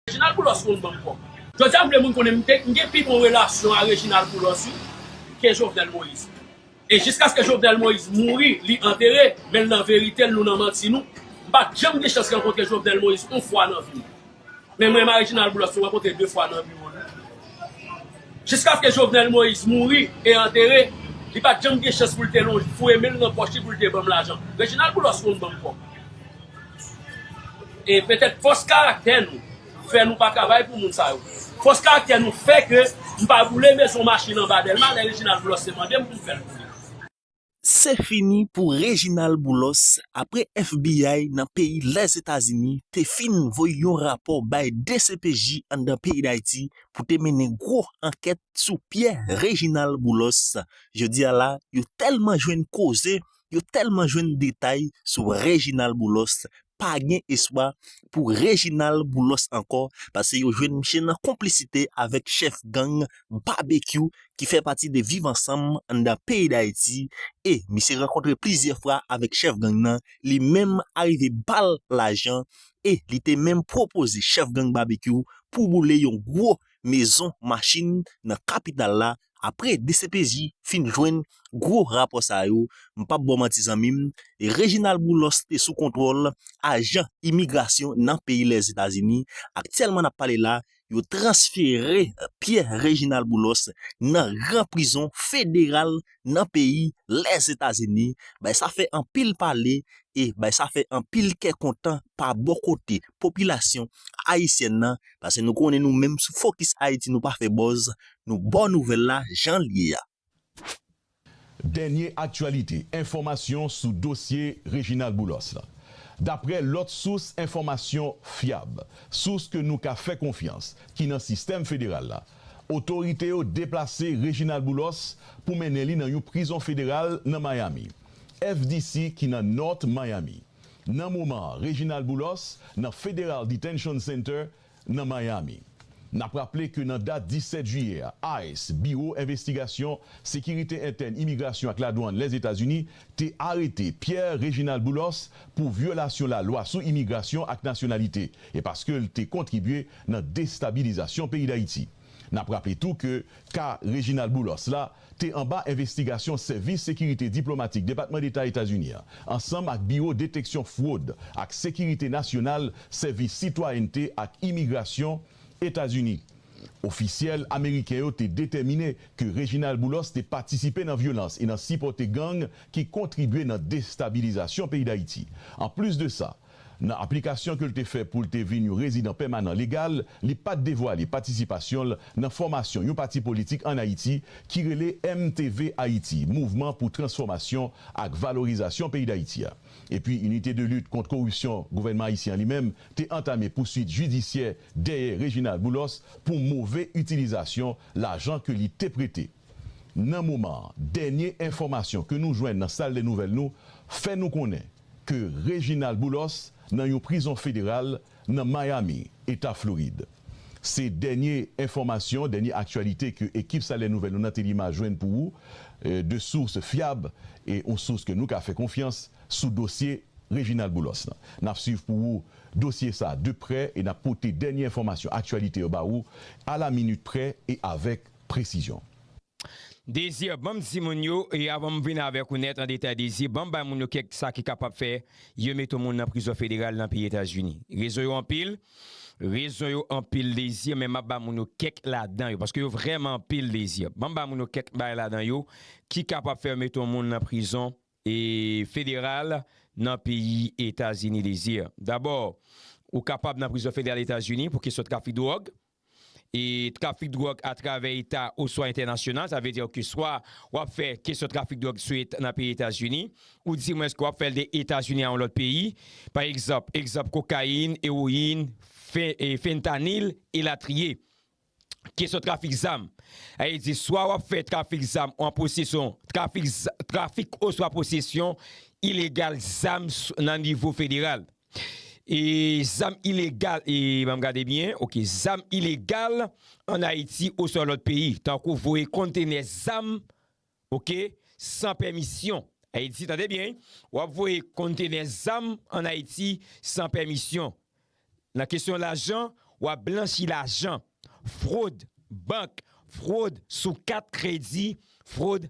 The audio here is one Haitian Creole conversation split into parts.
Reginald Boulos moun banm kòb. Jodia m vle moun konnen m gen pi bon relasyon a Reginald Boulos wi ke Jovenel Moïse. E jiskaske Jovenel Moïse mouri li antere men l nan verite l nou nan manti nou. M pat janm gen chans rankontre Jovenel Moïse on fwa nan vi m. Men mwen m a Reginald Boulos nou rankontre 2 fwa nan biwo l wi. Jiskaske Jovenel Moïse mouri e antere li pat janm gen chans pou l te lonje foure men l nan pòch li pou l te banm lajan. Reginald Boulos moun banm kòb. E petèt fòs karaktè nou fè nou pa travay pou moun sa yo. Fòs karaktè nou fè ke m pa boule mezon machin anba Dèlma lè Reginald Boulos te mande m pou m fè l boule. Se fini pou Reginald Boulos apre FBI nan peyi Lèzetazini te fin voye yon rapò bay dcpj anndan peyi Dayiti pou te mennen gwo ankèt sou Pierre Reginald Boulos. Jodi a la yo tèlman jwenn koze yo tèlman jwenn detay sou Reginald Boulos pa gen espwa pou Reginald Boulos ankò pase yo jwenn misye nan konplisite avèk chèf gang Babekyou ki fè pati de Viv Ansanm anndan peyi Dayiti e misye rankontre plizyè fwa avèk chèf gang nan li menm arive bal lajan e li te menm pwopoze chèf gang Babekyou pou boule yon gwo mezon machin nan kapital la apre dcpj fin jwenn gwo rapò sa yo m pap baw manti zanmim Reginald Boulos te sou kontwòl ajan imigrasyon nan peyi Lèzetazini aktyèlman nap pale la yo transfere Pierre Reginald Boulos nan gran prizon federal nan peyi Lèzetazini bay sa fè anpil pale e bay sa fè anpil kè kontan pa bò kote popilasyon ayisyèn nan pase nou konnen nou menm sou Fokis Ayiti nou pa fè bòz nou baw nouvèl la jan l ye a. Dènye aktyalite, enfòmasyon sou dosye Reginald Boulos la. Daprè lòt sous enfòmasyon fyab, sous ke nou ka fè konfyans ki nan sistèm federal la, Otorite yo deplase Reginald Boulos pou mennen li nan yon prizon federal nan Miami, FDC ki nan North Miami. Nan moman an Reginald Boulos nan Federal Detention Center nan Miami. N ap raple ke nan dat 17 jiyè a, ice, Biwo Envestigasyon, Sekirite Entèn, Imigrasyon ak Ladwann Lèzetazini te arete Pierre Reginald Boulos pou vyolasyon lalwa sou imigrasyon ak nasyonalite e paske l te kontribye nan destabilizasyon peyi Dayiti. N ap raple tou ke ka Reginald Boulos la te anba envestigasyon Sèvis Sekirite Diplomatik Depatman Deta Etazini an, ansanm ak Biwo Deteksyon Fwod ak Sekirite Nasyonal Sèvis Sitwayènte ak Imigrasyon Etazini. Ofisyèl ameriken yo te detèmine ke Reginald Boulos te patisipe nan vyolans e nan sipòte gang ki kontribye nan destabilizasyon peyi Dayiti. Anplis de sa, Nan aplikasyon ke l te fè pou l te vin yon rezidan pèmanan legal, li pa t devwale patisipasyon l nan fòmasyon yon pati politik ann Ayiti ki rele MTV Ayiti, Mouvman pou Transfòmasyon ak Valorizasyon Peyi Dayiti a. Epi Inite de Lit kont Koripsyon gouvènman ayisyen an li menm te antame pouswit jidisyè dèyè Reginald Boulos pou move itilizasyon lajan ke li te prete. Nan moman an, dènye enfòmasyon ke nou jwenn nan sal dè nouvèl nou fè nou konnen, ke Reginald Boulos nan yon prizon federal nan Miami, Eta Florid. Se dènye enfòmasyon, dènye aktyalite ke ekip Salè Nouvèl nou nan Telima jwenn pou ou de source fyab e yon source ke nou ka fè konfyans sou dosye Reginald Boulos lan. Nap swiv pou ou dosye sa de prè e nap pote dènye enfòmasyon aktyalite yo ba ou a la minit prè e avèk presizyon. Désir banm di moun yo e avan m vin avèk ou nèt an detay Désir banm bay moun yo kèk sa ki kapab fè yo mete yon moun nan prizon federal nan peyi Etazini rezon yo anpil rezon yo anpil Désir men map ba moun yo kèk ladan yo paske yo vrèman anpil Désir banm bay moun yo kèk bagay ladan yo ki kapab fè yo mete yon moun nan prizon federal nan peyi Etazini Désir dabò ou kapab nan prizon federal Etazini pou kesyon trafik dwòg e trafik dwòg atravè eta oswa entènasyonal, sa vle di ke swa w ap fè kesyon trafik dwòg sou et nan peyi Etazini, ou di mwens ke w ap fè l de Etazini a yon lòt peyi, pa egzanp, egzanp kokayin, ewoyin, fentanil, elatriye. Kesyon trafik zam, sa vle di swa w ap fè trafik zam ou an posesyon, trafik oswa posesyon ilegal zam nan nivo federal. E zam ilegal e banm gade byen ok zam ilegal an Ayiti oswa lòt peyi tankou voye konntenè zam ok san pèmisyon Ayiti tande byen wi wap voye konntenè zam an Ayiti san pèmisyon nan kesyon lajan wap blanchi lajan fwod bank fwod sou kat kredi fwod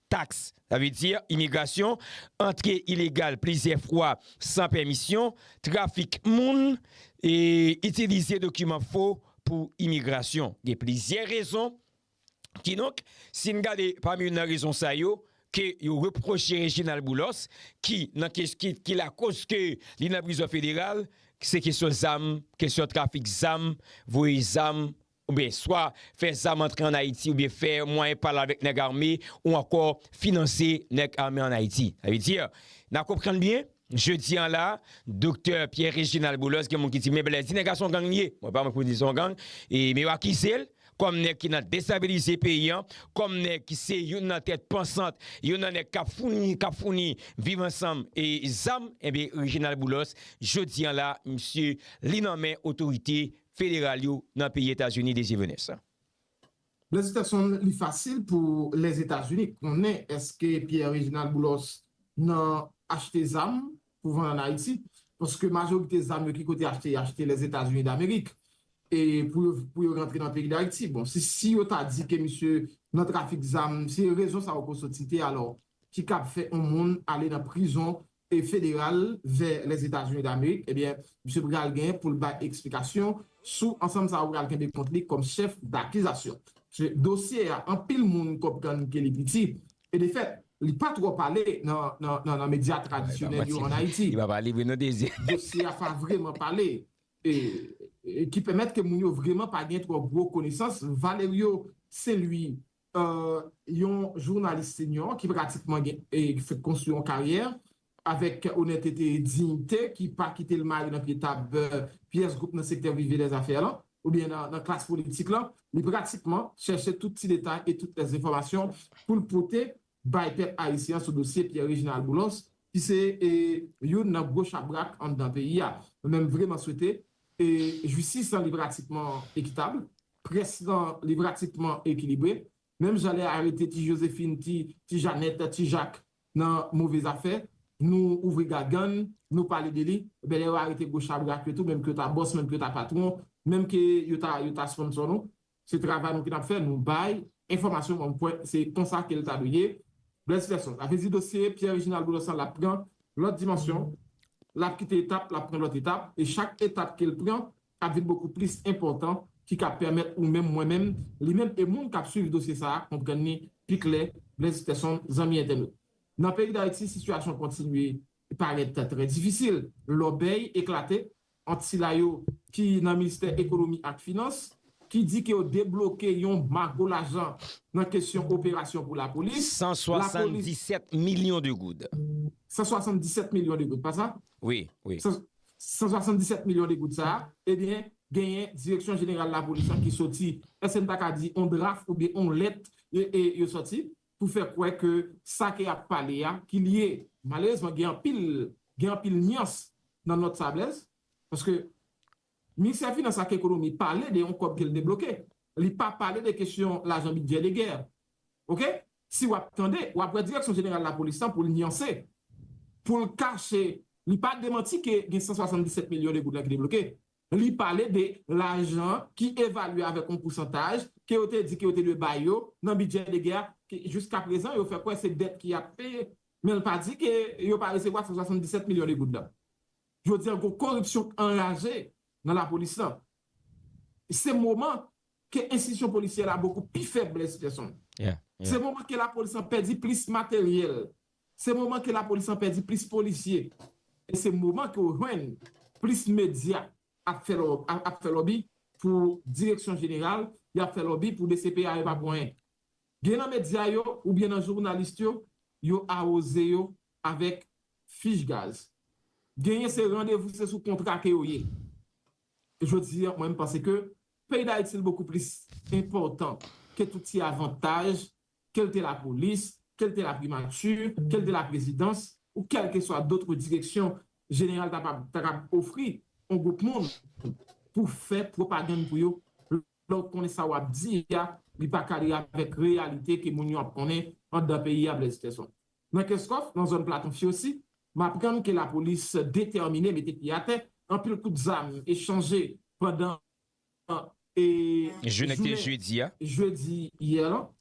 taks, sa vle di imigrasyon, antre ilegal plizyè fwa san pèmisyon, trafik moun, e itilize dokiman fo pou imigrasyon. Gen plizyè rezon. Kidonk, si n gade pami youn nan rezon sa yo ke yo repwoche Reginald Boulos ki nan kes ki ki lakoz ke li nan prizon federal, se kesyon zam, kesyon trafik zam, voye zam oubyen swa fè zam antre an Ayiti oubyen fè mwayen pale avèk nèg ame ou ankò finanse nèg ame an Ayiti. Sa vle di, n a konprann byen, jodi an la a, doktè Pierre Réginald Boulos gen moun ki di men Blaise, di nèg la s on gang li ye, mwen pa wè pou di l s on gang, e men yo akize l kòm nèg ki nan destabilize peyi an, kòm nèg ki se youn nan tèt pansant, youn nan nèg k ap founi, k ap founi Viv Ansanm e zam, enben Réginald Boulos, jodi an la a, misye li nan men otorite federal yo nan peyi Etazini Désir Venès. Lèzitason li fasil pou Lèzetazini konnen èske Pierre Réginald Boulos nan achte zam pou vann an Ayiti, paske majorite zam yo ki kote achte yo achte Lèzetazini Damerik e pou yo pou yo rantre nan peyi Dayiti. Bon si si yo ta di ke misye nan trafik zam se rezon sa yo ko soti te alò ki kab fè on moun ale nan prizon federal vè Lèzetazini Damerik, ebyen misye pral gen pou l bay eksplikasyon sou ansanm sa yo pral kenbe kont li kòm chèf dakizasyon. Paske dosye a anpil moun konprann ke li piti e defèt li pa twò pale nan medya tradisyonèl yo an Ayiti. Dosye a pa vreman pale e ki pèmèt ke moun yo vreman pa gen twò gwo konesans. Valerio Saint-Louis yon jounalis senyò ki pratikman gen fèk konstwi yon karyè avèk onètete e diyite ki pa kite l mare nan pye tab pyès gwoup nan sektè prive dèzafè lan oubyen nan klas politik lan. Li pratikman chèche tout ti detay e tout lèzefòmasyon pou l pote bay pèp ayisyen an sou dosye Pierre Reginald Boulos ki se youn nan gwo chabrak anndan peyi a. Mwen menm vreman swete jistis lan li pratikman ekitab, près lan li pratikman ekilibre, menm jan lè arete ti Josephine, ti ti Janèt, ti Jak nan move zafè, nou ouvri gagann, nou pale de li, enben lè yo arete gwo chabrak yo tou, menm ke yo ta bòs, menm ke yo ta patwon, menm ke yo ta sponsò nou, Se travay nou ki tap fè nou bay enfòmasyon kòm kwè se konsa ke l ta dwe ye. Blaise Felson, Sa vle di dosye Pierre Reginald Boulos la lap pran lòt dimansyon, lap kite etap, lap pran lòt etap, e chak etap ke l pran ap vin bokou plis enpòtan ki ka pèmèt ou menm, mwen menm, li menm e moun kap swiv dosye sa a konprann ni pi klè, Blaise Felson, Zanmi entènot, nan peyi Dayiti sitiyasyon kontinye Li parèt trè difisil lòbèy eklate ant sila yo ki nan Ministè Ekonomi ak Finans ki di ke yo debloke yon mago lajan nan kesyon operasyon pou lapolis. 177 milyon de goud. 177 milyon de goud, pa sa? Wi, wi. 177 milyon de goud sa a, ebyen, genyen Direksyon Jeneral Lapolis lan ki soti, èske n ta ka di yon draf oubyen yon lèt yo soti? pou fè kwè ke sa ke yap pale a ki li ye. Malerezman gen anpil gen anpil nyans nan nòt sa Blèz, paske Ministè Finans ak Ekonomi pale de yon kòb ke l debloke, li pa pale de kesyon lajan bidjè de gè. Ok? Si wap tande, wap wè Direksyon Jeneral Lapolis lan pou l nyanse, pou l kache, li pa demanti ke gen 177 milyon de goud lan ki debloke, Li pale de lajan ki evalye avèk yon pousantaj ke yo te di ke yo te dwe bay yo nan bidjè de gè a, ke jiskaprezan yo fè kwè se dèt ki ap peye. Men l pa di ke yo pa resevwa 177 milyon de goud lan. Jodi a gon koripsyon k anraje nan lapolis lan. Se moman ke enstitisyon polisyè la bokou pi fèb Blaise Gerson. Se moman ke lapolis lan pèdi plis materyèl. Se moman ke lapolis lan pèdi plis polisye. E se moman ke ou jwenn plis medya ap fè ap fè lòbi pou direksyon jeneral, y ap fè lòbi pou dcpj pa pou anyen. Gen nan medya yo oubyen nan journalist yo, yo awoze yo avèk fich gaz. Genyen se randevou se sou kontra ke yo ye. Jodi an mwen m panse ke peyi dayiti l bokou plis enpòtan ke tout ti avantaj ke l te lapolis, ke l te laprimati, ke l te laprezidans ou kèlkeswa dotre direksyon jeneral ta pab ta kab ofri on gwoup moun pou fè pwopagann pou yo lè w konnen sa w ap di a li pa kadre avèk reyalite ke moun yo ap konnen anndan peyi a Blaise Skeson. Nan Kenscoff, nan zòn Platon Fiosi, m aprann ke lapolis detèmine mete pye atè, anpil kout zam echanje pandan jounen jedi yè lan.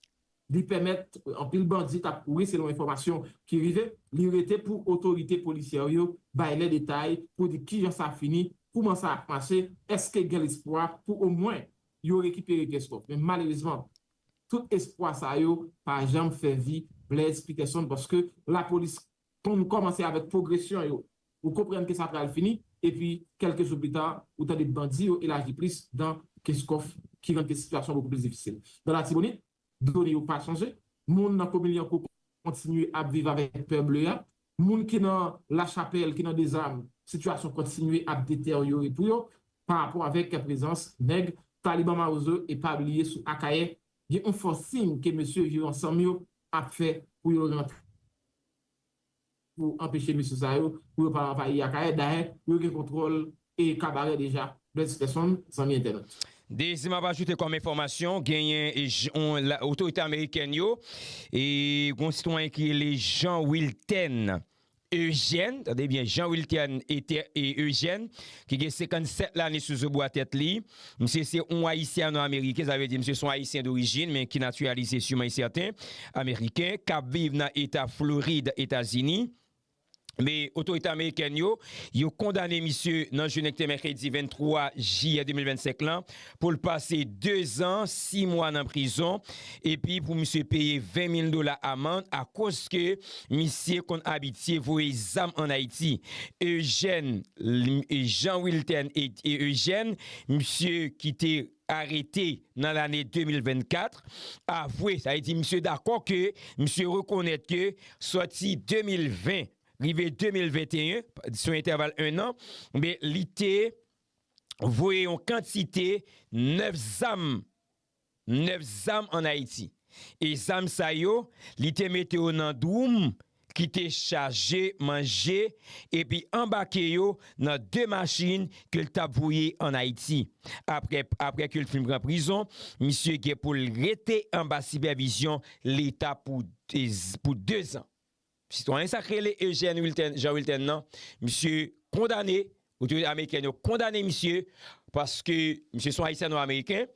Li pèmèt anpil bandi tap kouri selon enfòmasyon ki rive li rete pou otorite polisyè yo bay lè detay pou di kijan sa fini, kouman sa ap mache, eske gen lespwa pou omwen yo rekipere Kenscoff. Men malerezman, Tout espwa sa yo pa janm fè vi Blaise Peterson paske lapolis konn kòmanse avèk pwogresyon yo. Ou konprann ke sa pral fini epi kèlke jou plita ou tande bandi yo elaji plis dan Kenscoff ki rann sitiyasyon an bokou plis difisil. Nan Latibonit, done yo pa chanje. Moun nan komin Lyankou kontinye ap viv avèk pè ble a. Moun ki nan La Chapelle, ki nan Dezam, sitiyasyon kontinye ap deteryore pou yo pa rapò avèk prezans nèg Taliban Mawozo e pa bliye sou Akayè gen yon fòsing ke mesye Viv Ansanm yo ap fè pou yo rantre pou anpeche mesye sa yo pou yo pa anvayi Akayè. Dayè, yo gen kontwòl e kabarè deja bèl ti tès fanm zanmi entènot. Dezi map ajoute kòm enfòmasyon genyen otorite amerikèn yo e gon sitwayen ki rele Jean Wiltène Eugène tande byen Jean Wiltène Eugène ki gen 57 lane sou zo bwa tèt li misye se yon ayisyano ameriken sa vle di misye se yon ayisyen dorijin men ki natiralize siman yon sèten ameriken kap viv nan eta Florid etazini. Men, otorite amerikèn yo, yo kondane misye nan jounen ki te mèkredi 23 jiyè 2025 lan pou l pase 2 zan 6 mwa nan prizon epi pou misye peye 20 mil dola amand akoz ke misye konn abitye voye zam an Ayiti. Eugène Jean Wiltène Eugène, misye ki te. arete nan lane 2024, avwe, sa vle di misye dakò ke misye rekonèt ke sòti 2020 rive 2021, sou entèval ennan, enben li te voye yon kantite 9 zam, 9 zam an Ayiti. E zam sa yo, li te mete yo nan dwoum ki te chaje manje epi anbake yo nan 2 machin ke l t ap voye ann Ayiti. Apre ke l fin pran prizon, misye gen pou l rete anba sipèvizyon Leta pou 2 zan. Sitwayen sa k rele Eugène Wilten, Jean Wilten nan, misye kondane Otorite amerikèn yo kondane misye paske misye se yon ayisyano-ameriken.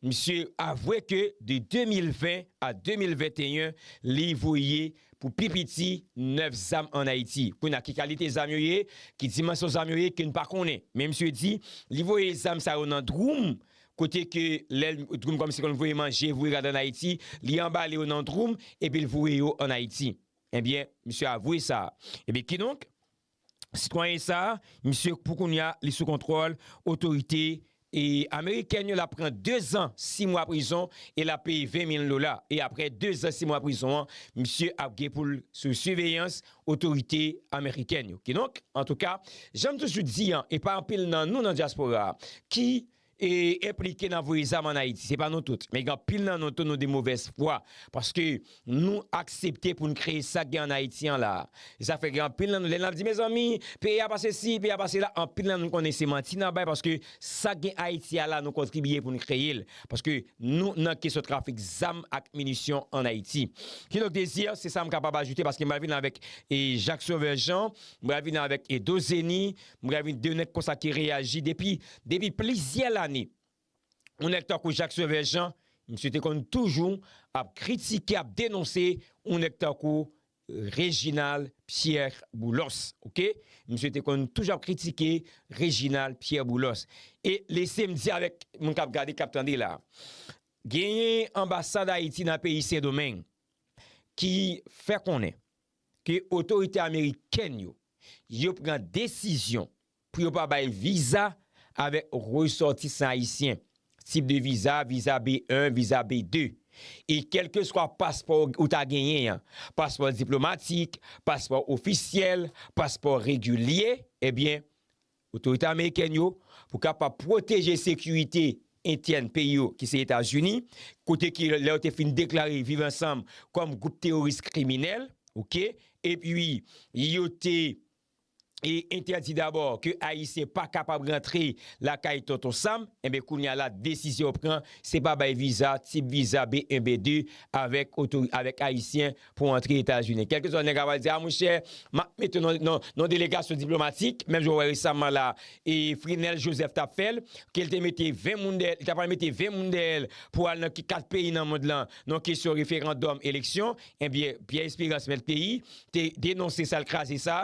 Misye avwe ke de 2020 a 2021 li voye pou pi piti 9 zam an Ayiti. Kounye a ki kalite zam yo ye, ki dimansyon zam yo ye ke n pa konnen. Men misye di li voye zam sa yo nan dwoum kote ke lè l, dwoum kòmsi kon voye manje, voye gade an Ayiti, li anbale yo nan dwoum epi l voye yo an Ayiti. Ebyen misye avwe sa. Ebyen kidonk. Sitwayen sa, misye pou kounya li sou kontwòl otorite amerikèn yo, l ap pran 2 zan 6 mwa prizon e l ap peye 20 mil dola. E aprè 2 zan 6 mwa prizon an, misye ap gen pou l sou siveyans otorite amerikèn yo. Kidonk, antouka, jan m toujou di an, e pa anpil nan nou nan dyaspora a ki e enplike nan voye zam an Ayiti. Se pa nou tout, men gen anpil nan nou tou nou de movèz fwa paske nou aksepte pou n kreye sa k gen an Ayiti an la. Se sa k fè gen anpil nan nou, lè n ap di mezanmi, peyi a pa sesi, peyi a pa sela, anpil nan nou konnen se manti n ap bay paske sa k gen Ayiti a la nou kontribiye pou n kreye l paske nou nan kesyon trafik zam ak minisyon an Ayiti. Kidonk Désir, se sa m kapab ajoute paske m pral vin avèk Jacques Sauveur Jean, m pral vin avèk Dozeni, M ravi 2 nèg konsa ki reyaji depi depi plizyè lane. Yon nèg tankou Jacques Sauveur Jean, misye te konn toujou ap kritike, ap denonse yon nèg tankou Reginald Pierre Boulos. Ok. Misye te konn toujou ap kritike Reginald Pierre Boulos. E lese m di avèk moun k ap gade, k ap tande la a. Genyen anbasad Ayiti nan peyi Sendomeng ki fè konnen. ke otorite amerikèn yo yo pran desizyon pou yo pa bay viza avèk resòtisan ayisyen, tip de viza, viza B1, viza B2, e kèlkeswa paspò ou ta genyen an, paspò diplomatik, paspò ofisyèl, paspò regilye, ebyen, Otorite amerikèn yo, pou kapab pwoteje sekirite entyèn peyi yo ki se Etazini, kote ke lè yo te fin deklare Viv Ansanm kòm gwoup teworis kriminèl, ok, epi yo te entèdi dabò ke Ayisyen pa kapab rantre lakay Tonton Sam, enben kounye a la desizyon pran, se pa bay viza, tip viza B1, B2 avèk Ayisyen pou antre Etazini. Kèlkeswa nèg a va di, a mwen chè, m ap mete w nan delegasyon diplomatik, menm jan ou wè resaman la, e Frinel Joseph t ap fè l, ke l te mete 20 moun dèyè l, li ta pral mete 20 moun dèyè l pou al nan ki 4 peyi nan mond lan, nan kesyon referandòm, eleksyon, enbyen, Pierre Esperance mèt peyi, te denonse sa, l kraze sa,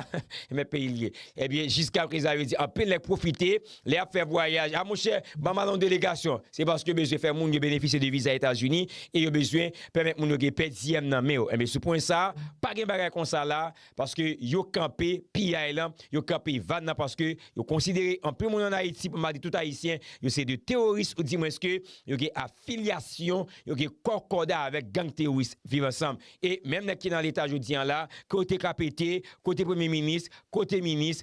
mèt peyi l ye. Enbyen, jiskaprezan yo di anpil nèg pwofite Lè yap fè vwayaj, a monchè, banm al yon delegasyon. Se paske yo bezwen fè moun yo benefisye de viza Etazini e yo bezwen pèmèt moun yo gen pè diyèm nan men yo. Enben sou pwen sa, pa gen bagay konsa la paske yo kanpe piyay lan, yo kanpe van nan paske yo konsidere anpil moun an Ayiti, pou m pa di tout Ayisyen, yo se de teworis ou di mwens ke yo gen afilyasyon, yo gen kòkòda avèk gang teworis Viv Ansanm. E menm nèg ki nan Leta jodi an la, kote kapete, kote premye minis, kote minis,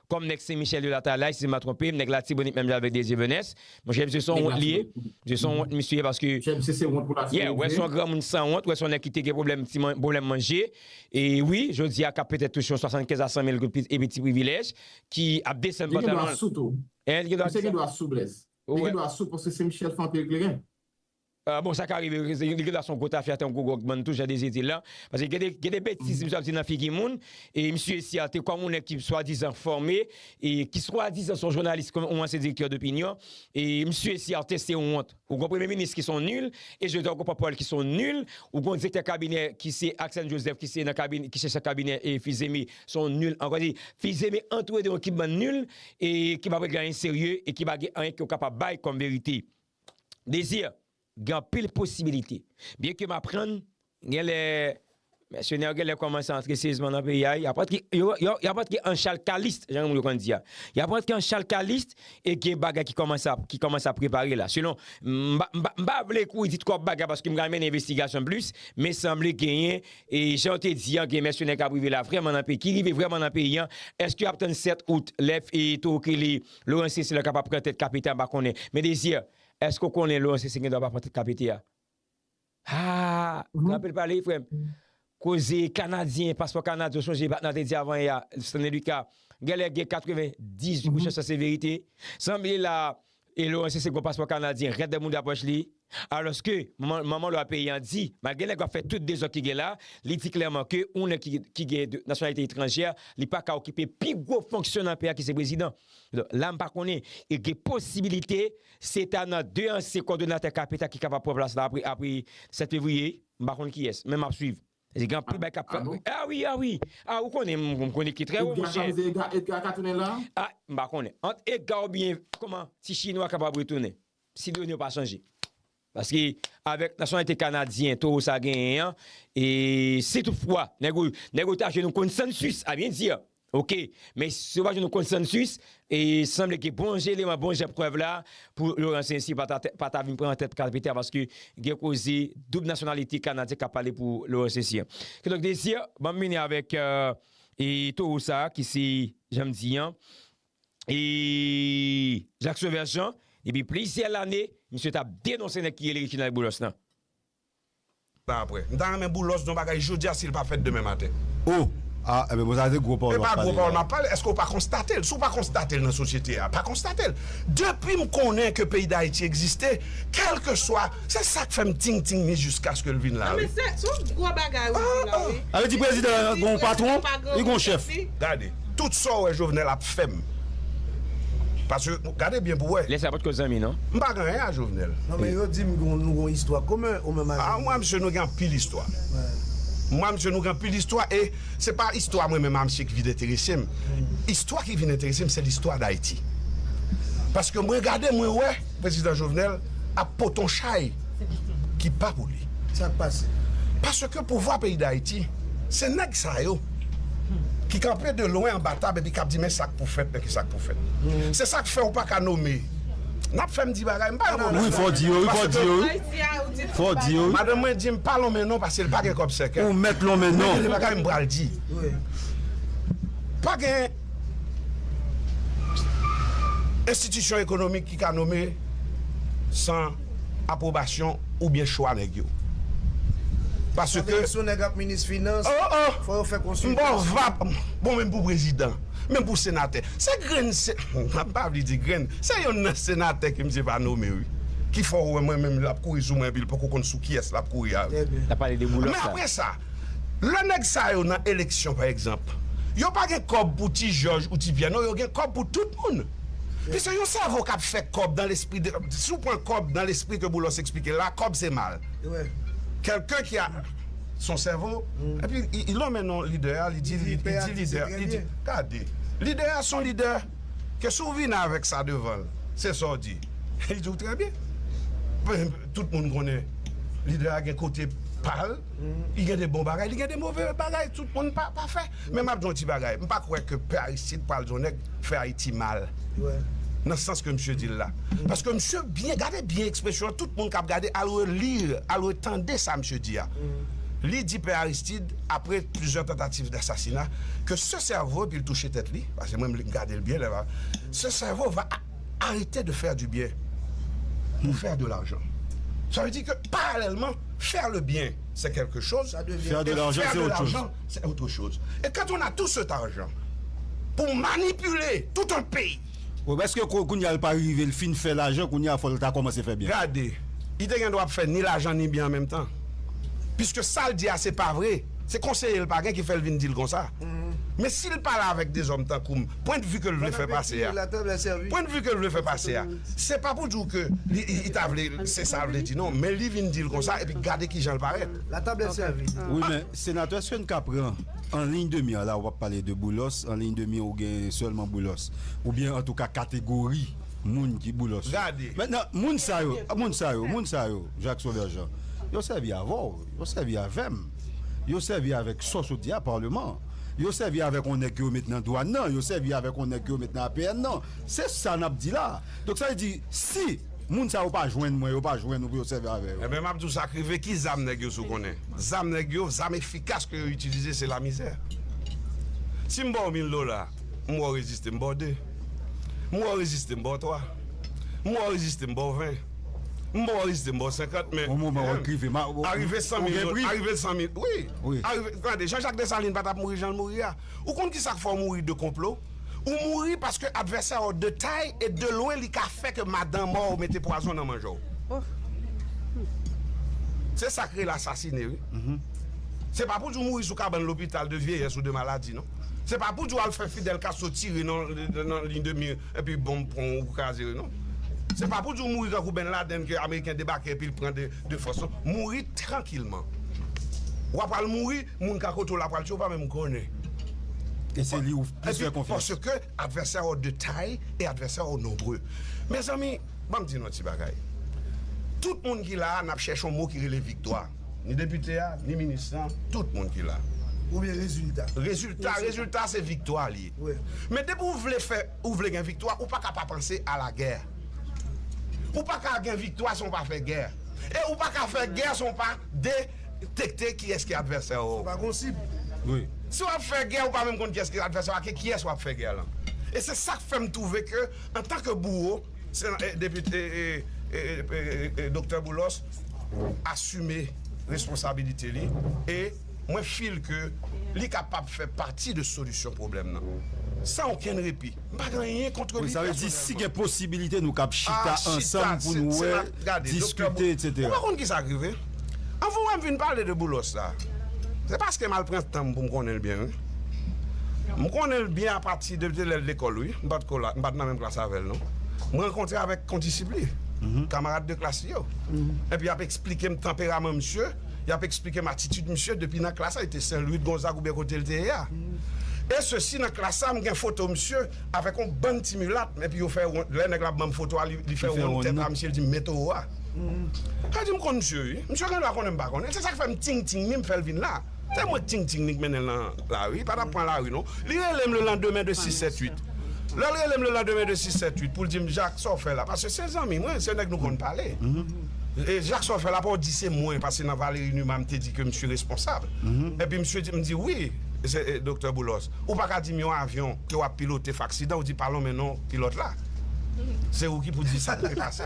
Kòm nèg sen michèl yo latalay si m pa twonpe m nèg latibonit menm jan avèk dezyevenès monchè misye son wont li ye misye son wont misye ye paske yè wè son granmoun san wont wè son nèg ki te gen pwoblèm ti pwoblèm manje e wi jodi a k ap petèt touche yon 75 a 100 mil goud e pi ti privilèj ki ap desann pantalon l misye gen dwa sou tou misye gen dwa sou blèz li gen dwa sou paske sen michèl fann anpil kleren. Bon sa ka rive vre, li gen dwa se yon gwo tafya tankou gwo gòg mann tou jan Désir di l lan. Paske gen de gen de betiz misye ap di nan figi moun e misye esi ate kòm yon nèg ki swadizan fòme e ki swadizan se yon jounalis kòm yon ansyen direktè dopinyon e misye esi ate se yon wont. Ou gen yon premye minis ki se yon nul e Joseph Okon Papaul ki se yon nul, ou gen yon direktè kabinè ki se Aksèn Joseph ki se nan kabinè ki se chèf kabinè e Fils-Aimé se yon nul ankò. Di Fils-Aimé antoure de yon ekip bann nul e ki pa p regle anyen serye e ki pa gen anyen ki yo kapab bay kòm verite. Désir, Gen anpil posibilite. Byen ke m aprann gen lè mèsenè yo gen lè kòmanse antre seryezman nan peyi a, y ap antre, y ap antre an chal kalist, jan moun yo konn di a. Y ap antre an chal kalist e gen bagay ki kòmanse ap prepare la. Selon, m pa vle kouri di twòp bagay paske m ka mennen envestigasyon plis, men sanble genyen, e jan yo te di an, gen mèsenè k ap rive la vrèman nan peyi, ki rive vrèman nan peyi an. Èske y ap tann 7 out lè Towo Kelly Laurence se lè kap ap pran tèt KPT a pa konnen men Désir èske ou konnen Laurence se gen dwa pa pran tèt KPT a haa trapel pale frèm koze kanadyen paspò kanadyen ou sonje patnè a te di avan yè a Stanley Lucas gèlè gen 98% se verite sanble la Laurence se gen yon paspò kanadyen rèd mouda pòch li. Alòske, manman lwa peyi an di, malgre nèg la ap fè tout dezòd ki gen la, li di klèman ke yon nèg ki gen nasyonalite etranjè, li pa ka okipe pi gwo fonksyon nan peyi a ki se prezidan. Donk, la m pa konnen, e gen posibilite se ta nan 2 ansyen kòdonatè kap eta ki kapab pran plas la apre 7 fevriye, m pa konn kiyès, men m ap swiv. Paske gen anpil bagay kap fèt. A wi, a wi! A ou konnen m, m konnen ki trè wo, monchè. Edga ka rive, Edga ka tounen la? A, m pa konnen. Ant Edga oubyen, kòman, ti chinwa kapab retounen. Si done yo pa chanje. Paske avèk nasyonalite kanadyen towo sa genyen an, e si tout fwa nèg ou, nèg ou ta jwenn yon konsansus a byen di a, ok. Men si yo pa jwenn yon konsansus, e sanble ke bon jan eleman, bon jan prèv la, pou Laurent Saincy pa ta, pa ta vin pran nan tèt kalpite a paske gen koze doub nasyonalite kanadyen kap pale pou Laurent Saincy an. Kidonk Desir, banm vini avèk e towo sa ki se, janm di an, e Jacques Sauveur Jean depi plizyè lane misye tap denonse nèg ki rele Reginald Boulos nan. la aprè. M ta renmen Boulos di yon bagay jodia si l pa fèt demen maten. Oh! Ah! Enben bon sa se gwo pawòl wap pale la. Epa gwo pawòl map pale, eske w pa konstate l? Si w pa konstate l nan sosyete a, pa konstate l. Depi m konnen ke peyi Dayiti egziste, kelke swa, se sa k fè m ting ting ni jiskaske l vin la wi. Non men se yon gwo bagay ou di la wi. Sa vle di prezidan an gen yon patwon, li gen yon chèf. Gade. Tout sa w wè Jovenel ap fè m. Paske, gade byen pou w wè. Lè sa yo pa t ko zanmi non. M pa gen anyen a Jovenel. Non men yo di m nou gen yon istwa komen ou menm ak Jovenel. A mwen a misye nou gen anpil istwa. Mwen a misye nou gen anpil istwa e se pa istwa mwen menm a misye ki vin enterese m. Istwa ki vin enterese m se listwa Dayiti. Paske mwen gade mwen wè. Prezidan Jovenel ap pote yon chay ki pa pou li. Sa k pase? Paske pouvwa peyi Dayiti, se nèg sa yo ki kanpe de lwen anba tab epi k ap di men sa k pou fèt, men ki sa k pou fèt. Se sa k fè ou pa ka nome. N ap fè m di bagay, m pa yon move nonm. Madanm mwen di m pa lonmen non paske l pa gen kòb sèkèt. Men gen de bagay m pral di. Pa gen. Enstitisyon ekonomik ki ka nome san apwobasyon oubyen chwa nèg yo. Sa vle di si yon nèg ap minis finans, fò yo fè konsiltasyon. Bon menm pou prezidan, menm pou senatè. Se grenn, m pa vle di grenn, se yonn nan senatè ke misye pa nome wi. Ki fè w wè mwen menm lè l ap kouri sou mwen epi l poko konn sou kiyès l ap kouri a. Trè byen. L ap pale de Boulos la. Men apre sa. Lè nèg sa yo nan eleksyon pa egzanp, yo pa gen kòb pou ti jòj ou ti pyè non yo gen kòb pou tout moun. Piske yon sèvo kap fè kòb dan lespri de si w pran kòb dan lespri ke Boulos eksplike la kòb se mal. Kèlken ki a son sèvo epi li lonmen non lidè a li di li di lidè li di gade lidè a son lidè ke si w vini avèk sa devan l se sa w di li di w trè byen. Tout moun konnen lidè a gen kote pa l. Li gen de bon bagay, li gen de move bagay, tout moun pa pafè. Men m ap di w yon ti bagay, m pa kwè ke pè Aristide pral di yon nèg fè Ayiti mal, nan sans ke misye di l la. Paske misye byen, gade byen ekspresyon an, tout moun k ap gade al reli, al retande sa misye di a. Li di pè Aristide, apre plizyè tantativ dasasina, ke se sèvo, epi l touche tèt li, paske mwen m gade l byen lè m ap, se sèvo va. arete de fè di byen pou fè de lajan sa vle di ke paralèlman fè le byen se kelke choz e fè de lajan se otre choz e kan on a tou set arjan pou manipile tout on peyi. Bon eske kounya li pa rive li fin fè lajan kounya fòl ta kòmanse fè byen. Gade li te gen dwa ap fè ni lajan ni byen an menm tan piske sal di a se pa vre se konseye li pa gen ki fèl vin dil konsa men sil pale avèk dezòm tankoum pwendvi ke l vle fè pase a, pwendvi ke l vle fè pase a, se pa pou di w ke li ta vle, se sa l vle di non, men li vin di l konsa epi gade kijan l parèt. Wi men senatè èske n ka pran an liy de mi an la ou pa pale de Boulos an liy de mi ou gen sèlman Boulos oubyen antouka kategori moun ki Boulos yo mentnan moun sa yo moun sa yo moun sa yo Jacques Sauveur Jean yo sèvi avè w yo sèvi avè m yo sèvi avèk sòs ou di a parleman. Yo sèvi avèk yon nèg ke yo met nan dwàn nan, yo sèvi avèk yon nèg ke yo met nan APN nan. Se sa n ap di la a. Donk sa vle di, si moun sa yo pa jwenn mwen, yo pa jwenn ou pou yo sèvi avè yo. Enben m ap di w sa k rive, ki zam nèg yo si w konnen? Zam nèg yo, zam efikas ke yo itilize se lamizè. Si m ba w mil dola, m wè w reziste, m ba w de. M wè w reziste, m ba w twa. M wè w reziste, m ba w ven. M bò rive 50 men Yon moman wap rive Arive 100 mil yo Arive l 100 mil Wi Wi Arive Tande Jean Jacques Dessalines pa tap mouri jan l mouri a Ou konn kisa k fè w mouri de konplo Ou mouri paske advèsè w de tay e de lwen li ka fè ke madan mò w mete pwazon nan manje w Ohh Humm Se sa k rele asasine wi Humm Se pa pou di w mouri sou kabann lopital de vyeyès ou de maladi non Se pa pou di w al fè Fidel Castro tire nan nan liy de mir Epi bonm pran w ou kraze yo non. Se pa pou di w mouri tankou Ben Laden ke ameriken debake epi l pran de fòs non. Mouri trankilman. W ap al mouri, moun ka kote w la pral tiye w pa menm konnen. E se li ou plis fè konfyans. Paske advèsè ou de tay e advèsè ou nonbre. Mezanmi, ban m di nou yon ti bagay. Tout moun ki la a n ap chèche yon mo ki rele viktwa. Ni depite a, ni minis lan, tout moun ki la. Oubyen rezilta. Rezilta, rezilta se viktwa li. Men depi ou vle fè ou vle gen viktwa ou pa ka pa panse a la gè. Ou pa ka gen viktwa san w pa fè gè. E ou pa ka fè gè san w pa detekte kiyès ki advèsè w. Sa pa gon sib. Wi. Si w ap fè gè ou pa menm konn kiyès ki advèsè w ake kiyès w ap fè gè lan. E se sa k fè m twouve ke antan ke bouwo se nan depi Doktè Boulos asime responsabilite li e mwen feel ke li kapab fè pati de solisyon pwoblèm nan. San okenn repi. M pa gen anyen kontre li pèsonèlman. Sa vle di si gen posibilite nou kab chita ansanm pou nou wè, diskite etc. Ou pa konn ki sa k rive? Anvan w wè m fin pale de Boulos la, se paske m al pran tan m pou m konnen l byen wi. M konnen l byen apati de lè l lekòl wi. M pa t ko la, m pa t nan menm klas avè l non. M rankontre avèk kondisip li, kamarad de klas li yo. Epi y ap esplike m tanperaman msye. y ap eksplike m atitid misye depi nan klas la, li te Sen Lwi, Gonzag oubyen kote l te ye a. E sesi nan klas la m gen foto misye avèk on bann ti milat m epi yo fè wonn, lè nèg la banm foto a li fè wonn tèt a misye di m men towo a. Sa di m konn misye wi, misye gen dwa konnen m pa konnen l, se sa k fè m ting ting li m fè l vin la. Se mwen k ting ting li k mennen l nan lari, li pa t ap pran lari non. Li rele m lelandemen de sis sèt uit. Lè l rele m lelandemen de sis sèt uit pou l di m Jak sa w fè la, paske se zanmi mwen, se nèg nou konn pale. Jacques sa w fè la apaw di se mwen pase nan Valery Numa m te di ke misye responsab epi misye di m di wi Doktè Boulos ou pa ka di m yon avyon ke wap pilote fè aksidan ou di pa lonmen non pilòt la se ou ki pou di sa k te pase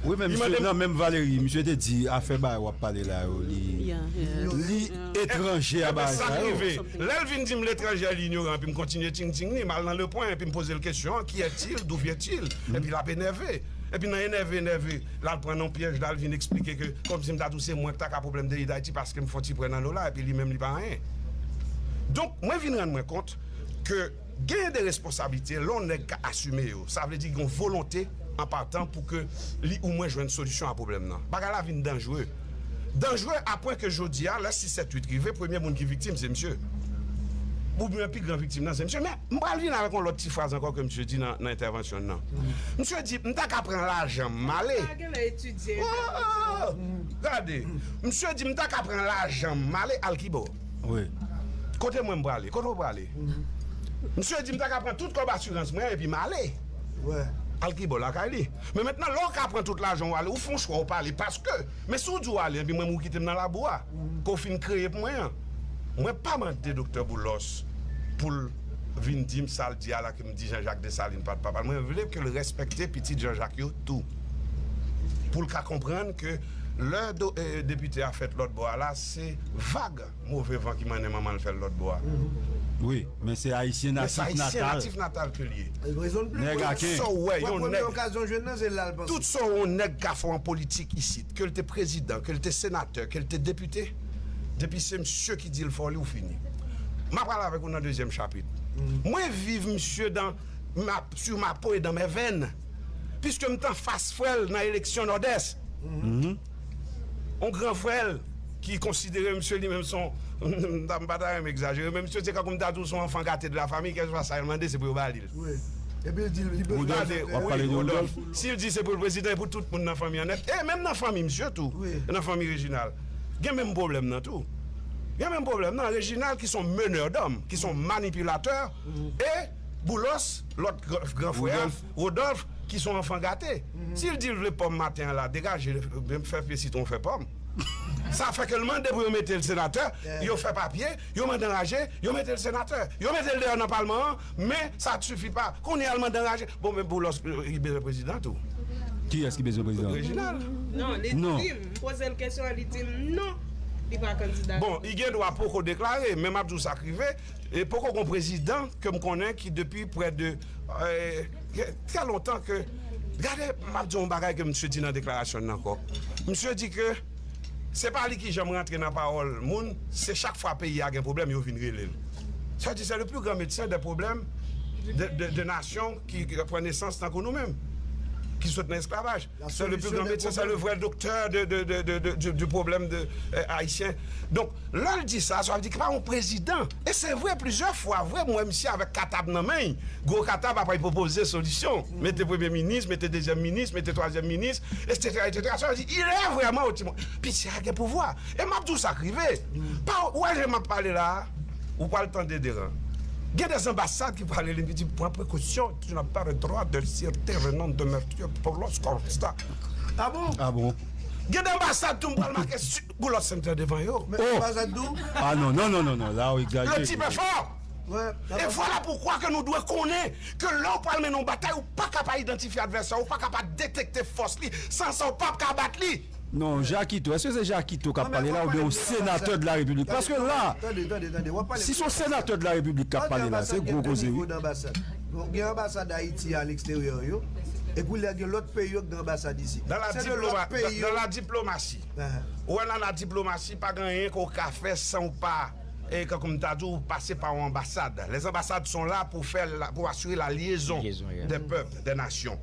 Wi men misye nan menm Valery misye te di afè bagay wap pale la yo li li etranje a bagay sa yo Epi sa k rive lè l vin di m l etranje li inyoran epi m kontinye ting ting li m al nan le point epi m poze l kesyon ki è t il dou vyen t il epi lap enève. Epi nan enève enève la l pran nan yon pyèj la l vin eksplike ke kòmsi m ta di w se mwen ki ta ka pwoblèm peyi Dayiti paske m fè yon ti prè nan lola epi li menm li pa anyen. Donk mwen vin rann mwen kont ke genyen de responsablite lè yon nèg ka asime yo sa vle di gen yon volonte an patan pou ke li ou mwen jwenn solisyon a pwoblèm nan. Bagay la vin danjre. Danjre a pwen ke jodi a, lè 6 7 8 rive, premye moun ki viktim se misye. Oubyen pi gran viktim nan se misye. Men, m pral vin avèk yon lòt ti fraz ankò ke misye di nan entèvansyon l nan. Misye di, m ta ka pran lajan m ale. Gade! Misye di, m ta ka pran lajan m ale al kibò? Kote mwen m prale? Kote ou prale? Misye di, m ta ka pran tout kòb asirans mwen epi m ale. Al kibò? Lakay li. Men mentnan lè w ka pran tout lajan w ale ou fè yon chwa ou pa ale paske men si w di w ale anpi mwen menm ou kite m nan labou a ke w fin kreye pou mwen an mwen pa mande Doktè Boulos pou l vin di m sa l di a la ke m di Janjak Desalin pa t papa l mwen vle ke l respekte pitit Janjak yo tou pou l ka konprann ke lè Depite a fèt lòtbò a la se vag. Move van ki mannen manman l fè l lòt bò a. Wi, men se ayisyen natif natal ke l ye. Nèg aken. Tout sa w yon nèg ka fè an politik isit, ke l te prezidan, ke l te senatè, ke l te depite, depi se msye ki di l fè w li, ou fini. M a pral avèk ou nan dezyèm chapit. Mwen viv msye dan, sur ma peau et dans mes veines, piske m t anfas frè l nan eleksyon Nòdès. yon gran frè l ki konsidere misye li menm se yon, m ta, m pa ta renmen egzajere, men misye se kankou m ta di w se yon anfan gate de la famiy, kèlkeswa sa yo mande se pou yo ba li l. Epi l di l li bezwen l fè. Wodòf, w ap pale de Wodòf? Wi, Wodòf. Si l di se pou l prezidan, e pou tout moun nan fanmi an nèt, e menm nan fanmi misye tou, nan fanmi Rejinal, gen menm pwoblèm nan tou. Gen menm pwoblèm nan. Rejinal ki se yon meneur d'homme, ki se yon manipilatè, e Boulòs, lòt gran frè a. Rodolphe ki son anfan gate sil dil vle pòm maten an la degaje fè pye sitron fè pòm sa fè kel mande pou yo metel senatè yo fè papye yo mande anraje yo metel senatè yo metel deyò nan palman an men sa t sifi pa kounyea l mande anraje bon men boulos li bezwen prezidan tou Kiyès ki bezwen prezidan Reginald non bon li gen dwa poko deklare men map diw sak rive E poko gon prezidan kem konnen ki depi prè de trè lontan ke gade map di yon bagay ke misye di nan deklarasyonn nan ankò misye di ke se pa li ki janm rantre nan pawòl moun se chak fwa peyi a gen pwoblèm yo vin relel sa vle di se le pli gran medsen de pwoblèm de nasyon ki pran nesans tankou nou menm ki sot nan esklavaj. Se le pi gran medsen, se le vrè doktè di pwoblèm de Ayisyen. Donk, lè l di sa, sa vle di ki pa yon prezidan. E se vre, plizyè fwa vre, m wè misye avèk katab nan men l, gwo katab apre l pwopoze solisyon. Mete premye minis, mete dezyèm minis, mete twazyèm minis, esetera, esetera. Sa vle di, ilè vrèman yon ti moun. Piti a gen pouvwa. E m ap di w sa k rive. Ou wè jan m ap pale la a, ou pral tande deran. Gen dè zanbasad ki pral rele m ki di, pran prekosyon. ki nan pèri dwa de sirte renon de mètye pou lòs konsta a bon a bon gen de anbasad tou m pral make pou lòs sènte devan yo o anbasad tou a non non non non la ou egzajere le tip e fò e vwala pou kwa ke nou dwe konnen ke lè ou pral mennen yon batay ou paka pa idantifye advèsè ou paka pa detekte fòs li san sa ou pap ka bat li. Non jakito eske se jakito kap pale la oubyen yon senatè de la repiblik paske la si son senatè de la repiblik kap pale la se gwo koze wi. Nou gen anbasad ayiti a aleksteryè yo e koulye a gen lòt peyi yo ki gen anbasad isi se de lòt peyi yo nan la diplomasi ou wè nan la diplomasi pa gen anyen ke w ka fè san w pa tankou m ta di w pase pa yon anbasad les ambassades sont là pou fè pou asire la liaison des peuples de nasyon.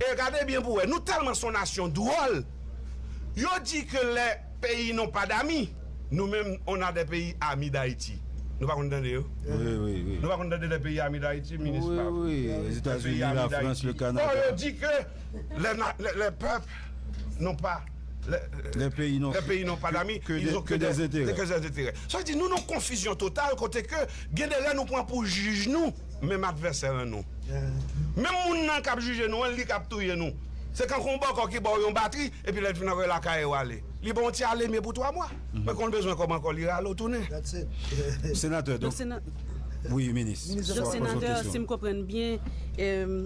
E gade byen pou wè, nou tèlman son nasyon dwòl, yo di ke lè peyi non pa dami, nou menm on a de peyi ami d'Ayiti. Nou pa konn tande yo? Nou pa konn tande de peyi ami d'Ayiti, minis pa? Wi, wi, wi, Etazini, la Frans, le Kanada. Bon, yo di ke lè pèp non pa, lè peyi non pa dami, ils ont que des intérêts. Sa vle di nou nan konfizyon total kote ke gen de lè nou pran pou jij nou. Menm advèsè an nou. Menm moun nan k ap jije nou an, li k ap touye nou. Se kankou yon bòkò ki ba w yon batri, epi lè l fin antre lakay ou ale. Li ba w yon ti aleme pou twa mwa. Mwen konn bezwen kòm ankò, li rale w tounen. Senatè, donk, wi, minis, swa poze yon kesyon. Donk, senatè, si m konprann byen,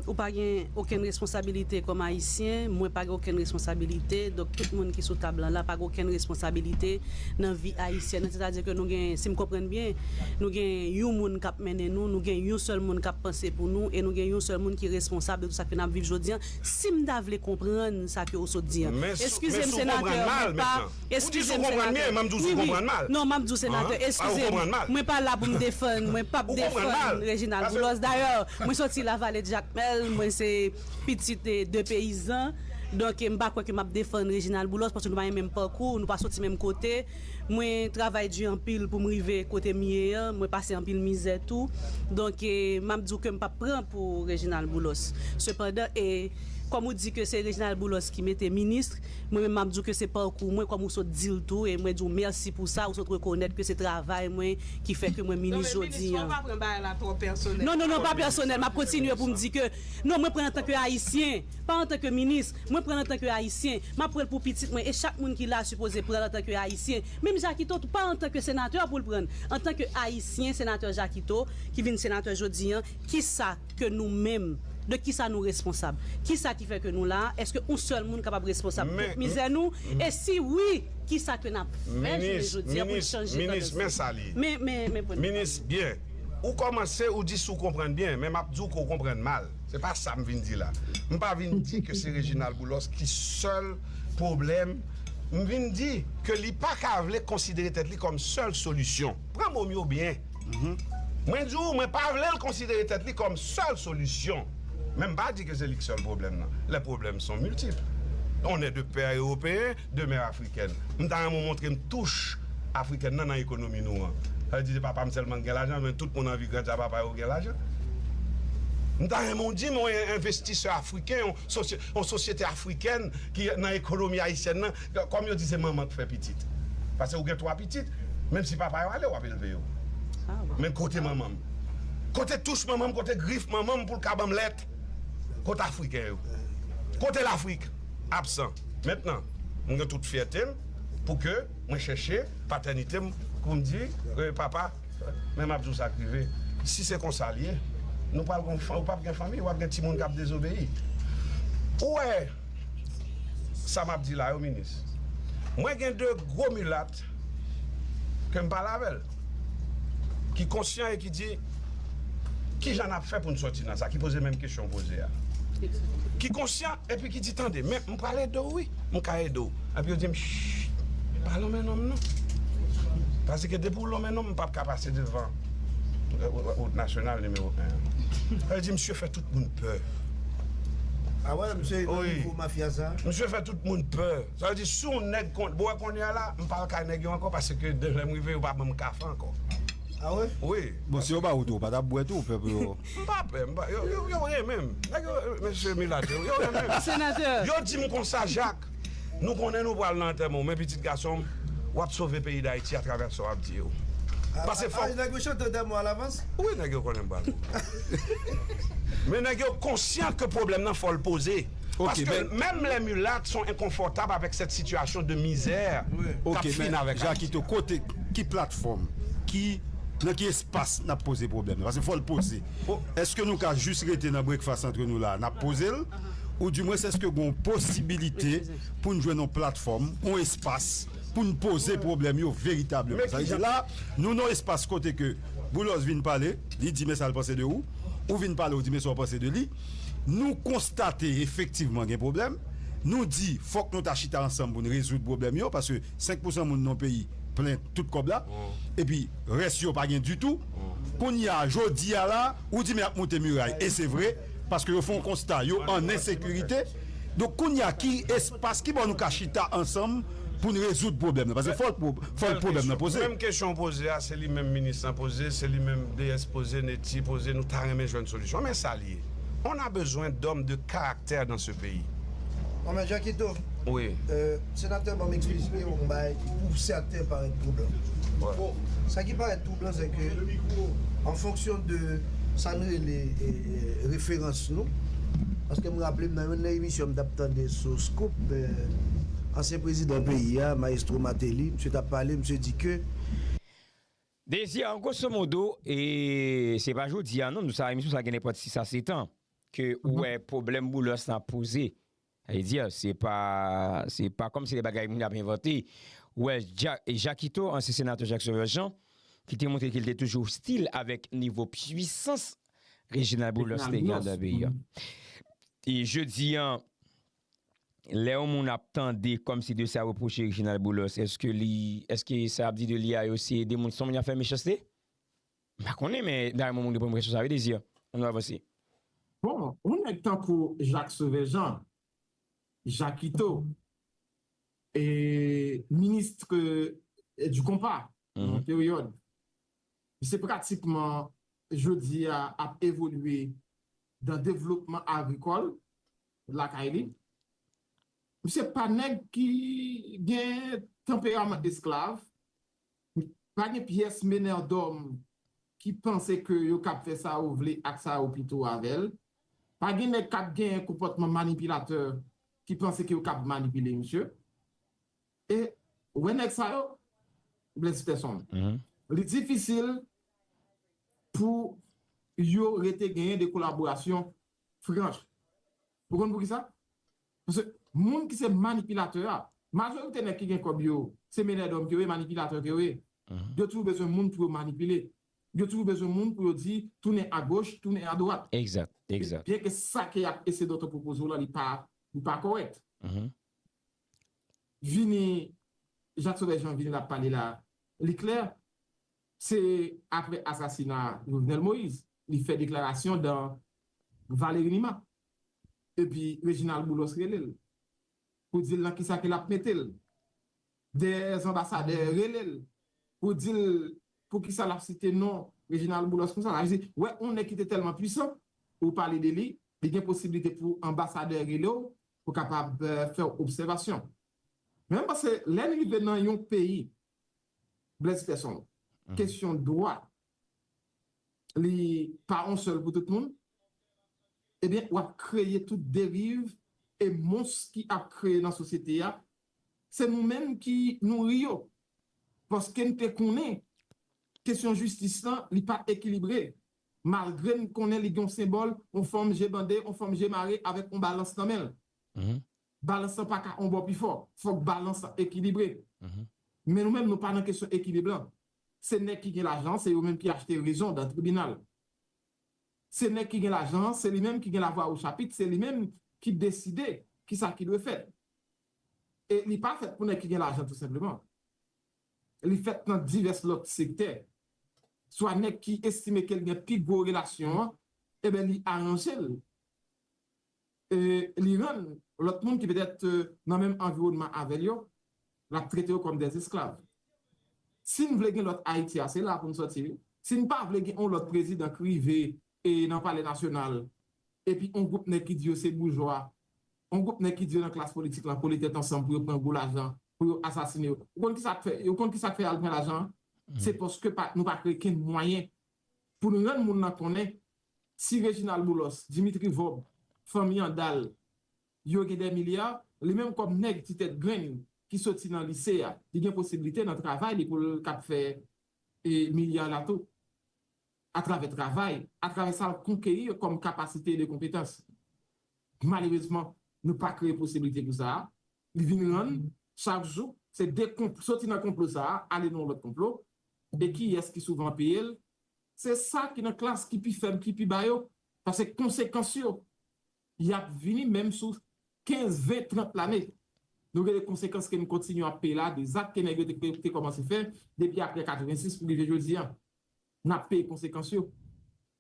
ou pa gen okenn responsabilite kòm Ayisyen, mwen pa gen okenn responsabilite, donk tout moun ki sou tab lan la pa gen okenn responsabilite nan vi Ayisyèn an. Sètadi ke nou gen, si m konprann byen, nou gen yon moun k ap. Nen nou, nou gen yon sèl moun kap panse pou nou e nou gen yon sèl moun ki responsab de tout sa ke nap viv jodi an, sim ta vle konprann sa ke ou sot di an. Men sou, men sou konprann mal mentnan. Ou di sou konprann byen, m'en m'di sou konprann mal. Non, m'ap di w senatè, eskize m, mwen pa la pou m defann, mwen pap defann Reginald Boulos. Dayè, mwen soti Lavalée de Jacmel, mwen se pitit de peyizan, donk m pa kwè ke m'ap defann Reginald Boulos paske nou pa gen menm pakou, nou pa soti menm kote. Mwen travay du anpil poum rive kotem ye an mwen pase anpil mizè tou donk map diw kem pap pran pou Reginald Boulos sepandan e kòm ou di ke se Reginald Boulos ki mete ministre mwen menm map diw ke se parkou mwen kòm ou sot dil tou e mwen diw mèsi pou sa ou sot rekonèt ke se travay mwen ki fè ke mwen minis jodi an. Non non non pa pèsonèl map kontinye poum di ke non mwen pran antanke ayisyen. Pa antanke minis, mwen pranl antanke ayisyen, map pranl pou pitit mwen e chak moun ki la sipoze pranl antanke ayisyen, menm Jakito tou pa antanke senatè poul pranl, antanke ayisyen senatè Jakito ki vin senatè jodi an, kisa ke nou menm, de kisa nou responsab? Kisa ki fè ke nou la a? Eske yon sèl moun kapab responsab tout mizè nou? E si wi, kisa ke nap fè jounen jodi an poun chanje tandans nou? Men, men, men pwen de pa m nan. Se pa sa m vin di la. M pa vin di ke se Reginald Boulos ki sèl pwoblèm. M vin di ke li pa ka vle konsidere tèt li kòm sèl solisyon. Pran mo m yo byen. Mwen di ou mwen pa vle l konsidere tèt li kòm sèl solisyon. Men m pa di ke se li ki sèl pwoblèm nan. Les problèmes sont multiples. On est de père européen. Demeure africaine. M ta renmen w montre m touch africaine nan nan ekonomi nou an. Sa vle di se papa m sèlman ki gen lajan men tout moun anvi granca papa yo gen lajan. M ta renmen w di m yon envestisè afriken, yon sosyete afrikèn ki nan ekonomi ayisyèn nan, kòm yo di se manman ki fè pitit. Pase ou gen 3 pitit, menm si papa yo ale w ap elve yo. Men kote manman m? Kote touch manman m, kote grif manman m pou l ka ban m lèt? Kot Afriken yo? Kote Lafrik? Absan. Mentnan, mwen gen tout fyète m pou ke mwen chèche patènite m pou m di, Ee papa, men m ap di w sa k rive, si se konsa l ye, nou pral gen yon fanmi, ou p ap gen fanmi, w ap gen timoun k ap dezobeyi. Ou wè sa m ap di la yo, minis? Mwen gen de gwo milat Kat, ke m pale avè l, ki konsyan e ki di, Ki jan n ap fè pou n soti nan sa? Ki poze menm kesyon w poze a. Ki konsyan epi ki di, Tande, men, m pral ede w wi. M ka ede w. Epi yo di m, Chit! Pa lonmen nonm non. Paske depi w lonmen nonm, m pap ka pase devan wout nasyonal nimewo 1 an. Yo di misye fè tout moun pè. A wè misye nan nivo mafya sa? Misye fè tout moun pè. Sa vle di si yon nèg kon, bon wè kounye a la m pa al kay nèg yo ankò paske de lè m rive yo pa ban m kafe ankò. Ah wi? Wi. Bon si yo ba ou tou ou pa tap bwè tou ou pè pou yo? M pa pè, m pa, yo, yo renmen m. Nèg yo, mesye milat yo, yo renmen m. Senatè! Yo di m konsa, Jak, nou konnen nou pral nan antèman w men pitit gason m, w ap sove peyi Dayiti atravè sa w ap di yo. Pase fòk. Ah, nèg yo chante antèman w alavans? Wi nèg yo konnen m pral mouri. Men nèg yo konsyan ke pwoblèm nan fò l poze. Paske menm lè mulat son enkonfòtab avèk sèt sitiyasyon de mizè kap fin avèk Ayiti la. Kote, ki platfòm, ki, nan ki espas nap poze pwoblèm nan? Paske fòl poze. Eske nou ka jis rete nan breakfast antre nou la nap pozel? Ou di mwens eske gon posibilite poun jwenn yon platfòm, yon espas poun poze pwoblèm yo veritableman? Sa vle di la nou nan yon espas kote ke Boulos vin pale, li di men sal panse de ou, ou vin pale ou di men sa ou panse de li. Nou konstate efektivman gen pwoblèm, nou di fòk nou ta chita ansanm pou n rezoud pwoblèm yo paske 5 pou san moun nan yon peyi plen tout kòb la epi rès yo pa gen ditou. Kounye a, jodi a la, ou di men y ap moute miray e se vre paske yo fè yon konsta yo an ensekirite. Donk kounya ki espas ki bò nou ka chita ansanm pou n rezoud pwoblèm nan? Paske fò l pwoblèm nan poze. Menm kesyon ou poze a, se li menm minis lan poze, se li menm DS poze, Netty poze, nou ta renmen jwenn solisyon. Men sa l ye, on a besoin d'hommes de caractère dans ce pays. Mèt Jakito, Senatè banm eksplizite yon bagay ki pou sèten parèt twoublan. Bon, sa ki parèt twoublan se ke an fonksyon de sa n rele referans nou, paske m raple m nan youn nan emisyon m t ap tande sou Scoop, ansyen prezidan peyi a, Maestro Martelly, msye t ap pale, msye di ke. Dezi an gwoso modo, e se pa jodi a non, nou sa emisyon sa gen nenpòt 6 a 7 an ke ou wè pwoblèm Boulos lan ap poze. Sa vle di, se pa se pa kòmsi se bagay moun ap envante. Ou wè Jakito, ansyen senatè Jacques Sauveur Jean, ki te montre ke li te toujou ostil avèk nivo pwisans Reginald Boulos te gen anndan peyi a. E jodi a, lè yon moun ap tande kòmsi de sa repwoche Reginald Boulos, èske li, èske sa y ap di de li a yo se de moun, se yon moun y ap fè mechanste? M pa konnen men dayè moun moun gen pou enpresyon sa wi Désir. An nou avanse. Bon, yon nèg tankou Jacques Sauveur Jean, Jakito, e ministre du compas nan yon peryòd, misye pratikman jodi a ap evolye dan devlopman agrikòl lakay li. Misye pa nèg ki gen tanperaman esklav. Pa gen pyès menèdòm ki panse ke yo kab fè sa yo vle ak sa yo pito avè l. Pa gen nèg k ap genyen konpòtman manipilatè ki panse ke yo kab manipile misye. E, ou wè nèg sa yo, Blaise Peterson, li difisil pou yo rete genyen de kolaborasyon franch. Ou konn poukisa? Paske moun ki se manipilatè a, majorite nèg ki gen kòb yo, se menè dòm ke yo ye, manipilatè ke yo ye. Yo toujou bezwen moun pou yo manipile. Yo toujou bezwen moun pou yo di tounen agoch, tounen adwat. Exact, exact. Byen ke sa ke yap ese Dòktò pwopoze w la li pa, li pa kòrèk. Vini, Jacques Sauveur Jean vini lap pale la, li klè. Se apre asasina Jovenel Moïse, li fè deklarasyon dan Valery Numa. Epi Reginald Boulos rele l pou di l nan kisa ke l ap mete l. Dèyè zanbasadè rele l pou di l poukisa l ap site non Reginald Boulos konsa. Sa vle di, wè yon nèg ki te tèlman pwisan, ou pale de li, li gen posiblite pou anbasadè rele w pou kapab fè w obsèvasyon. Men m panse lè n rive nan yon peyi, Blaise Persson, kesyon dwa li pa on sèl pou tout moun, ebyen w ap kreye tout deriv e mons ki ap kreye nan sosyete a, se nou menm ki nouri yo, paske n te konnen kesyon jistis lan li pa ekilibre, malgre n konnen li gen on senbòl, on fanm je bande, on fanm je mare avèk on balans nan men l. Balans lan pa ka on bò pi fò, fòk balans lan ekilibre. Men nou menm nou pa nan kesyon ekilib lan. Se nèg ki gen lajan an se yo menm ki achte rezon dan tribinal. Se nèg ki gen lajan an se li menm ki gen lavwa o chapit se li menm ki deside ki sa ki dwe fèt. E li pa fèt pou nèg ki gen lajan tou senpleman. Li fèt nan divès lòt sektè. Swa nèg ki estime ke l gen pi gwo relasyon an, eben li aranje l. li rann lòt moun ki petèt nan menm anviwònman avè l yo, l ap trete yo kòm dè esklav. Si n vle gen lòt Ayiti a, se la pou n sòti wi. Si n pa vle gen on lòt prezidan k rive nan palè nasyonal epi on gwoup nèg ki di yo se boujwa, on gwoup nèg ki di yo nan klas politik la kole tèt ansanm pou yo pran gwo lajan pou yo asasine yo. Ou konn ki sa k fè, ou konn ki sa k fè y al pran lajan an? Se paske nou pa kreye kenn mwayen pou n rann moun lan konnen Si Reginald Boulos, Dimitri Vorbe, fanmi Andal yo gen dè milya, li menm kòm nèg ti tèt grenn ki soti nan lise a, li gen posiblite nan travay li pou l kab fè milya la tou. Atravè travay, atravè sa l konkeri kòm kapasite de konpetans. Malerezman, nou pa kreye posiblite pou sa a. Li vin rann, chak jou, se de konplo, soti nan konplo sa a, ale nan yon lòt konplo. E kiyès ki souvan peye l? Se sa ki nan klas ki pi fèb ki pi ba yo, pase konsekans yo, y ap vini menm sou kenz, ven, trant lane. Nou rele konsekans ke n kontinye ap peye la de zak ke nèg yo te kòmanse fè depi apre 86 pou rive jodi a. N ap peye konsekans yo.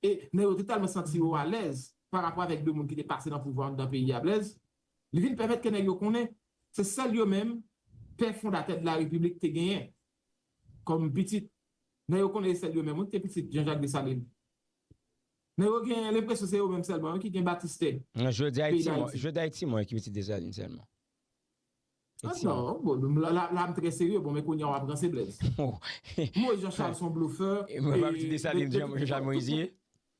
E nèg yo te tèlman santi yo alèz pa rapò avèk de moun ki te pase nan pouvwa anndan peyi a Blèz, li vin pèmèt ke nèg yo konnen se sèl yo menm pè fondatè de la Repiblik te genyen kòm pitit. Nèg yo konnen Estelle yo menm wi ki te pitit Jean-Jacques Dessalines. Nèg yo gen lenpresyon se yo menm sèlman wi ki gen batistè peyi Dayiti. Jodi a e Ti Mò ki pitit Dessalines sèlman. E Ti Mò. Non, bon, la a m trè serye, bon men kounye a w ap ranse Blaise. Moïse Jean Charles se yon blofè. E mwen pa pitit Dessalines Jean Charles Moïse ye?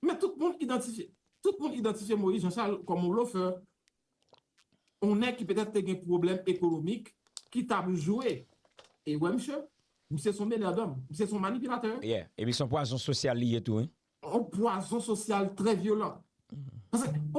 Men tout moun idantifye Moïse Jean Charles kòm yon blofè. On nèg ki petèt te gen pwoblèm ekonomik ki tap jwe e wè misye, misye son meneur d'homme, misye son manipilatè. Yeah, epi son pwazon sosyal li ye tou wi. On pwazon sosyal trè vyolan. Paske.